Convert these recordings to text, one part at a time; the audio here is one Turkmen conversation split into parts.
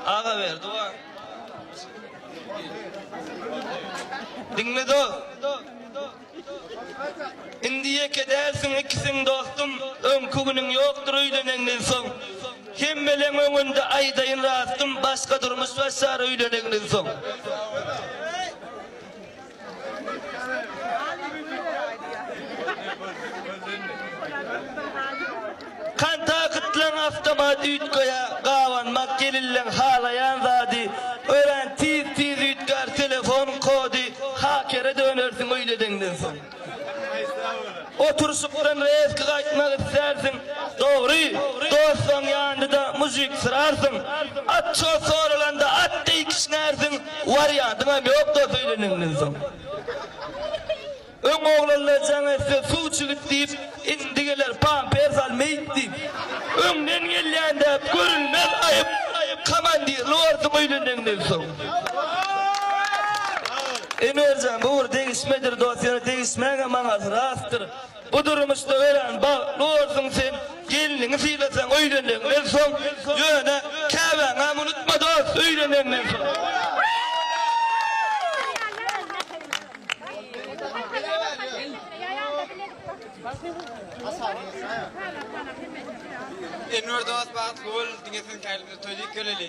Aga ver dua. Dinle do. Indi ýeke dälsiň ikisiň dostum, öňki günüň ýokdur öýleneňden soň. Hemmeleň öňünde aýdaýyn rastym, başga durmuş başlar öýleneňden soň. Kontaktlaryň awtomat üýtgeýär, gabanmak gelilleň halaýan zady, örän tiz tiz üýtgär telefonyň kody, hakere dönersiň öýledeňden soň. Oturyşykdan rezki gaýtmak islärsiň, dogry, dostuň ýanynda mužik syrarsyň, atçyga soralanda at deý kişňärsiň, wariantyň hem ýok dos öýlenenden soň. Öň oglanlar jaň etse suw çigit diýip, indi geler pampers al meýit diýip. Öňden gelýän däp görülmez aýyp, komandirli borsuň öýlenenden soň. Emirjan bu bir degişmedir dost ýöne degişmäge manasy rastdyr. Bu durmuşda örän bagtly bolarsyň sen gelniňi sylasaň öýleneniňden soň ýöne käbäňem unutma dost öýleneniňden soň. Enwer dost bagtly bol diňe seň kälinde toý diýip geleli.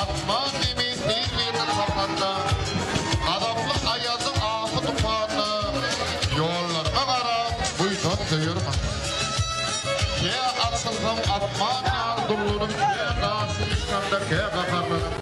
Asman zemin bir-birini sapanda, Gazaply aýazyň ahy tupanda, Ýollaryňa garap, buýsan söýer manda. Kä atylsaň asman ýaly dullanyp, Kä garşy çykanda, kä gaharlanyp.